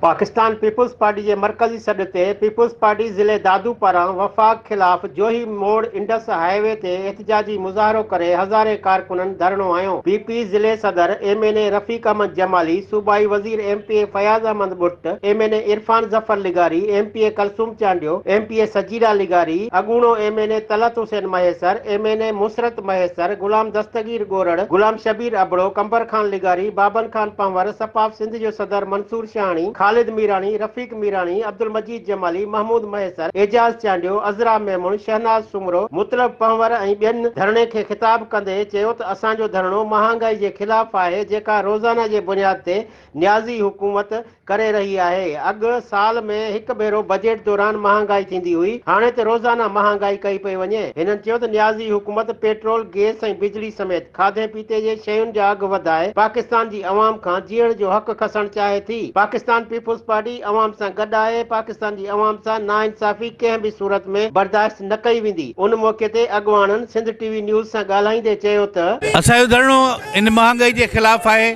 Pakistan Peoples Party جي مرڪزي سڏ تي پيپلز پارٽي ضلعي دادو پاران وفاق خلاف جوهي موڙ انڊس هاء وي تي احتجاجي مظاهرو ڪري هزارين ڪارڪنن ڌرڻو هنيو، پي پي ضلعي صدر M N A Rafiq Ahmed Jamali, صوبائي وزير M P A Fayaz Ahmed Butt, M N A Irfan Zafar لغاري، M P A Kulsoom Chandio, M P A Sajida لغاري، اڳوڻو M N A Talat Hussain Mahesar, M N A Musarrat Mahesar, Ghulam Dastagir Gorar, Ghulam Shabbir Abro, Qambar Khan لغاري، بابن خان پنهور، سپاف سنڌ، جو صدر منصور شاهاڻي، خالد ميراڻي، رفيق ميراڻي، عبدالمجيد جمالي، محمود مهيسر، اعجاز چانڊيو، عذرا ميمڻ، شهناز سومرو، مطلب پنهور ۽ ٻين ڌرڻي کي خطاب ڪندي چيو ته اسان جو ڌرڻو مهانگائي جي خلاف آهي جيڪا روزانه جي بنياد تي نيازي حڪومت ڪري رهي آهي اڳ سال ۾ هڪ ڀيرو بجيٽ دوران مهانگائي ٿيندي هئي هاڻي ته روزانه مهانگائي ڪئي پئي وڃي هنن چيو ته نيازي حڪومت پيٽرول گيس ۽ بجلي سميت کاڌي خطي جي شين جا اگهه وڌائي پاڪستان جي عوام کان جيئڻ جو حق کسڻ چاهي ٿي، پاڪستان پيپلز پارٽي عوام سان گڏ آهي، پاڪستان جي عوام سان ناانصافي ڪنهن به صورت ۾ برداشت نه ڪئي ويندي، ان موقعي تي اڳواڻن سنڌ ٽي وي نيوز سان ڳالهائيندي چيو ته. اسان جو ڌرڻو ان مهانگائي جي خلاف آهي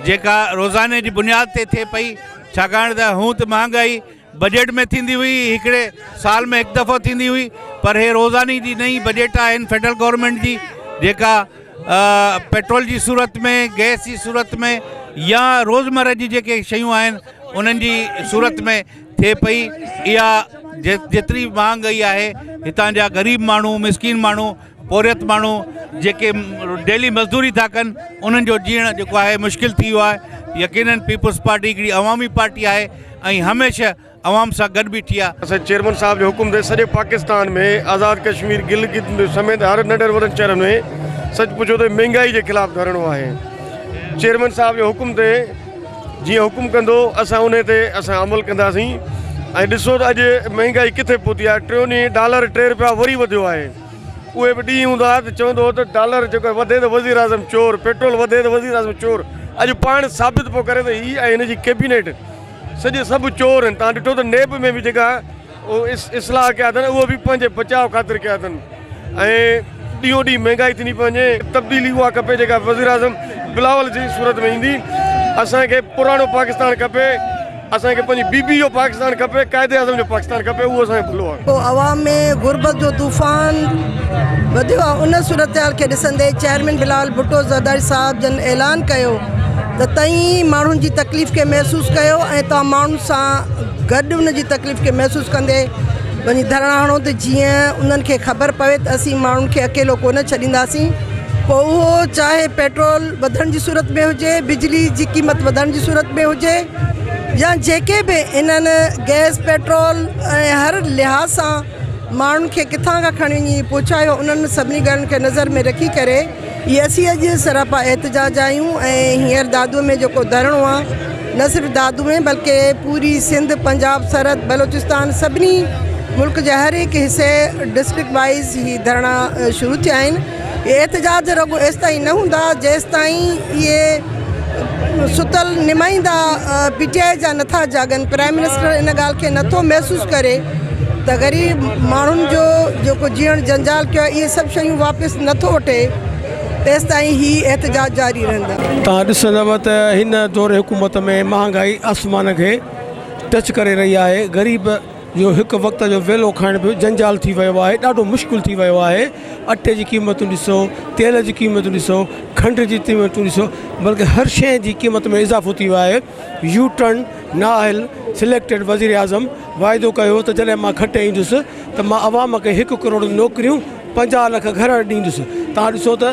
جيڪا روزاني جي بنياد تي ٿئي پئي ڇاڪاڻ ته هونء ته مهانگائي. بجيٽ ۾ ٿيندي هئي هڪڙي سال ۾ هڪ دفعو ٿيندي هئي پر هي روزاني جي نئين بجيٽ آهن فيڊرل گورنمينٽ جي جيڪا پيٽرول جي صورت ۾ گئس جي صورت ۾ يا روزمره جي جيڪي شيون آهن انهن جي صورت ۾ ٿئي پئي اها جيتري مهانگائي آهي هتان جا غريب ماڻهو مسڪين ماڻهو پورهيت ماڻهو جيڪي ڊيلي مزدوري ٿا ڪن انهن جو جيئڻ جيڪو آهي مشڪل ٿي ويو آهي يقينن پيپلز پارٽي هڪڙي عوامي پارٽي آهي ۽ هميشه عوام سان گڏ بيٺي آهي. اسان چيئرمين صاحب جي حڪم تي سڄي پاڪستان ۾ آزاد ڪشمير گلگت سميت هر ننڍن وڏن شهرن ۾ سچ پڇو ته مهنگائي جي خلاف ڌرڻو آهي چيئرمين صاحب جي حڪم تي جيئن حڪم ڪندو اسان انهي تي اسان عمل ڪنداسين ۽ ڏسو ته اڄ مهنگائي ڪٿي پهتي آهي ٽيون ڏينهن ڊالر ٽي روپيا وري وڌيو آهي. اهي به ڏينهن هوندا هئا ته چوندو هو ته ڊالر جيڪر وڌي ته وزيراعظم چور، پيٽرول وڌي ته وزيراعظم چور، اڄ پاڻ ثابت پيو ڪري ته هي ۽ هن جي ڪيبينيٽ سڄي سڀ چور آهن، توهان ڏٺو ته نيب ۾ به جيڪا اصلاح ڪيا اٿن اهو به پنهنجي بچاء خاطر ڪيا اٿن ۽ ڏينهون ڏينهن مهنگائي ٿيندي پئي وڃي، تبديلي اها کپي جيڪا وزيراعظم بلاول جي صورت ۾ ايندي، اسان کي پراڻو پاڪستان کپي. اسان کي پنهنجي بي بي جو پاڪستان کپي قائد اعظم جو پاڪستان کپي اهو اسان جو ڀلو آهي. عوام ۾ غربت جو طوفان وڌيو آهي ان صورتحال کي ڏسندي چيئرمين بلال ڀٽو زرداري صاحب جن اعلان ڪيو ته توهين ماڻهن جي تڪليف کي محسوس ڪيو ۽ توهان ماڻهن سان گڏ ان جي تڪليف کي محسوس ڪندي وڃي ڌرڻا هڻو ته جيئن انهن کي خبر پوي ته اسين ماڻهن کي اڪيلو ڪونه ڇڏينداسين پوء اهو چاهي پيٽرول وڌڻ جي صورت ۾ هجي بجلي جي قيمت وڌڻ جي صورت ۾ هجي. يا جيڪي به انهن گئس پيٽرول ۽ هر لحاظ سان ماڻهن کي ڪٿان کان کڻي وڃي پهچايو انهن سڀني ڳالهين کي نظر ۾ رکي ڪري ئي اسين اڄ سراپا احتجاج آهيون ۽ هينئر دادوء ۾ جيڪو ڌرڻو آ نه صرف دادوء ۾ بلڪه پوري سنڌ پنجاب سرحد بلوچستان سڀني ملڪ جي هر هڪ حصي ڊسٽرڪٽ وائيز هي ڌرڻا شروع ٿيا آهن اهي احتجاج رڳو ايستائين نه هوندا جيستائين اهي ستل نمائندا پي ٽي آء جا نٿا جاڳن، پرائم منسٽر ان ڳالهه کي نٿو محسوس ڪري ته غريب ماڻهن جو جيڪو جيئڻ جنجال ڪيو آهي اهي سڀ شيون واپس نٿو وٺي تيستائين هي احتجاج جاري رهندا. توهان ڏسندؤ ته هن دور حڪومت ۾ مهانگائي آسمان کي ٽچ ڪري رهي آهي، غريب. جو هڪ وقت جو ويلو کائڻ به جنجال ٿي ويو آهي ڏاڍو مشڪل ٿي ويو آهي اٽي جي قيمتون ڏسو تيل جي قيمتون ڏسو کنڊ جي قيمتون ڏسو بلڪه هر شيء جي قيمت ۾ اضافو ٿي ويو آهي يو ٽرن نااهل سليڪٽيڊ وزيراعظم واعدو ڪيو هو ته جڏهن مان کٽي ايندس ته مان عوام کي هڪ ڪروڙ نوڪريون پنجاهه لک گهر ڏيندس توهان ڏسو ته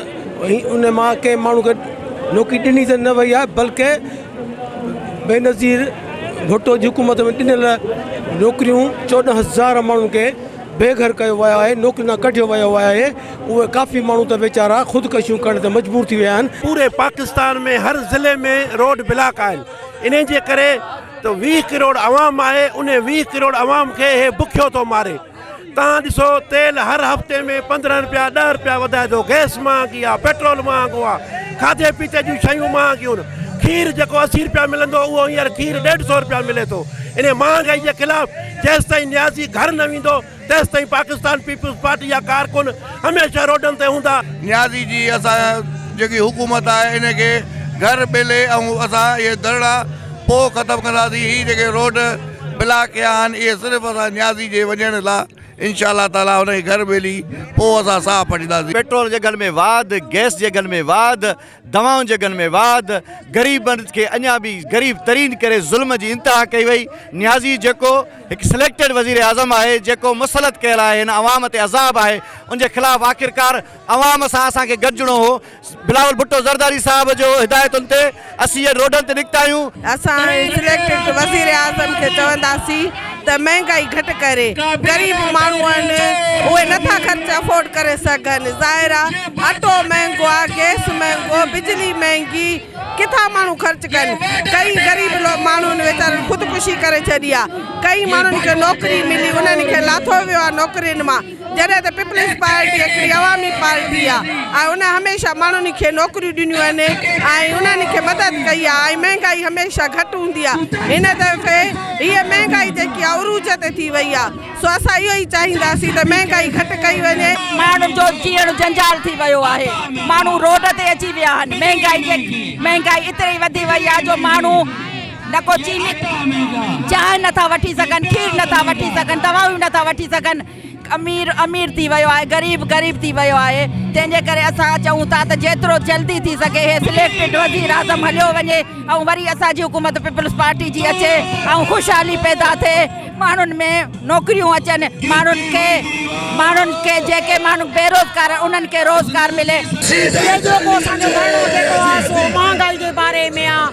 ان مان ڪنهن ماڻهو کي نوڪري ڏني ته نه وئي آهي بلڪه بينظير ڀٽو جي حڪومت ۾ ڏنل نوڪريون چوڏهن هزار ماڻهن کي بي گهر ڪيو ويو آهي نوڪرين کان ڪڍيو ويو آهي اهي ڪافي ماڻهو ته ويچارا خودڪشيون ڪرڻ تي مجبور ٿي ويا آهن. پوري پاڪستان ۾ هر ضلعي ۾ روڊ بلاڪ آهن انهي جي ڪري ته ويهه ڪروڙ عوام آهي انهي ويهه ڪروڙ عوام کي هي بکيو ٿو ماري. تان ڏسو تيل هر هفتي ۾ پندرهن رپيا ڏهه رپيا وڌائي ٿو گئس مهانگي آ پيٽرول مهانگو آ کاڌي پيتي جون شيون مهانگيون کير جيڪو اسي رپيا ملندو اهو هينئر کير ڏيڍ سو رپيا ملي ٿو انهي مهانگائي جي خلاف جيستائين نيازي گهر نه ويندو تيستائين پاڪستان پيپلز پارٽي جا ڪارڪن هميشه روڊن تي هوندا. نيازي جي اسان جيڪي حڪومت آهي انهي کي گهر ٻيلي ۽ اسان اهي ڌرڻا پوء ختم ڪنداسين هي جيڪي روڊ. بلا ڪيا آھن اھي صرف اسان نيازي جي وڃڻ لا انشاء الله تعالي ان کي گھر ميلي پوء اسان ساھ پٽينداسين. پيٽرول جي اگھن ۾ واڌ، گئس جي اگھن ۾ واڌ، دوائن جي اگھن ۾ واڌ، غريبن کي اڃا به غريب ترين ڪري ظلم جي انتها ڪئي وئي، نيازي جيڪو ھڪ سليڪٽيڊ وزيراعظم آھي جيڪو مسلط ڪيل آھي ھن عوام تي عذاب آھي ان جي خلاف آخرڪار عوام سان اسان کي گڏجڻو ھو، بلاول ڀٽو زرداري صاحب جو هدايتن تي اسين هينئر روڊن تي نڪتا آهيون. اسان سليڪٽڊ وزيراعظم کي چونداسين ته مهنگائي گهٽ ڪري، غريب ماڻهو آهن اهي نٿا خرچ افورڊ ڪري سگهن، ظاهر آ اٽو مهنگو آ، گئس مهنگو، بجلي مهنگي، ڪٿان ماڻهو خرچ ڪن، ڪئين غريب ماڻهن ويچارن خودڪشي ڪري ڇڏي آ، ڪئين ماڻهن کي نوڪري ملي انهن کي لاٿو ويو آ نوڪرين مان. جڏهن ته پيپلز پارٽي هڪڙي عوامي پارٽي آهي ۽ ان هميشه ماڻهن کي نوڪريون ڏنيون آهن ۽ انهن کي مدد ڪئي آهي ۽ مهنگائي هميشه گهٽ هوندي آهي هن دفعي هيء مهنگائي جيڪي آهي عروج تي ٿي وئي آهي سو اسان اهو ئي چاهينداسين ته مهنگائي گهٽ ڪئي وڃي. ماڻهن جو جيئڻ جنجال ٿي ويو آهي ماڻهو روڊ تي اچي ويا آهن مهنگائي اتري وڌي وئي آهي جو ماڻهو نه ڪو چيني چانهه نه ٿا وٺي سگهن، کير نه ٿا وٺي سگهن، دوائون نه ٿا وٺي سگهن. امير امير ٿي ويو آهي، غريب غريب ٿي ويو آهي. تنهن جي ڪري اسان چئون ٿا ته جيترو جلدي ٿي سگهي هي سليڪٽڊ وزيراعظم هليو وڃي ۽ وري اسان جي حڪومت پيپلز پارٽي جي اچي ۽ خوشحالي پيدا ٿئي، ماڻهن ۾ نوڪريون اچن، ماڻهن کي ماڻهن کي جيڪي ماڻهو بيروزگار آهن انهن کي روزگار ملي. ٻيو جو ڪو اسان جو ڌرڻو جيڪو آهي سو مهانگائي جي باري ۾ آهي.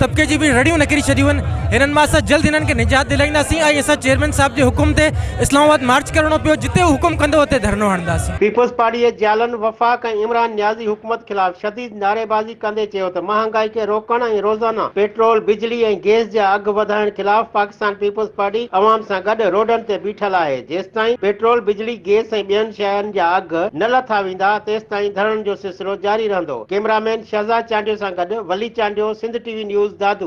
طبقي جون به رڙيون نڪري ڇڏيون آهن هنن مان اسان جلد هنن کي نجات دلائينداسين ۽ اسان چيئرمين صاحب جي حڪم تي اسلام آباد مارچ ڪرڻو پيو جتي هو حڪم ڪندو اتي ڌرڻو هڻنداسين. پيپلز پارٽي جي جيالن وفاق ۽ عمران نيازي حڪومت خلاف شديد نعريبازي ڪندي چيو ته مهانگائي کي روڪڻ ۽ روزانه پيٽرول، بجلي ۽ گئس جا اگهه وڌائڻ خلاف پاڪستان پيپلز پارٽي عوام سان گڏ روڊن تي بيٺل آهي، جيستائين پيٽرول، بجلي، گئس ۽ ٻين شين جا اگهه نه لٿا ويندا تيستائين ڌرڻن جو سلسلو جاري رهندو ڪيمرا مين شهزاد چانڊيو سان گڏ ولي چانڊيو سنڌ ٽي وي نيوز دادو.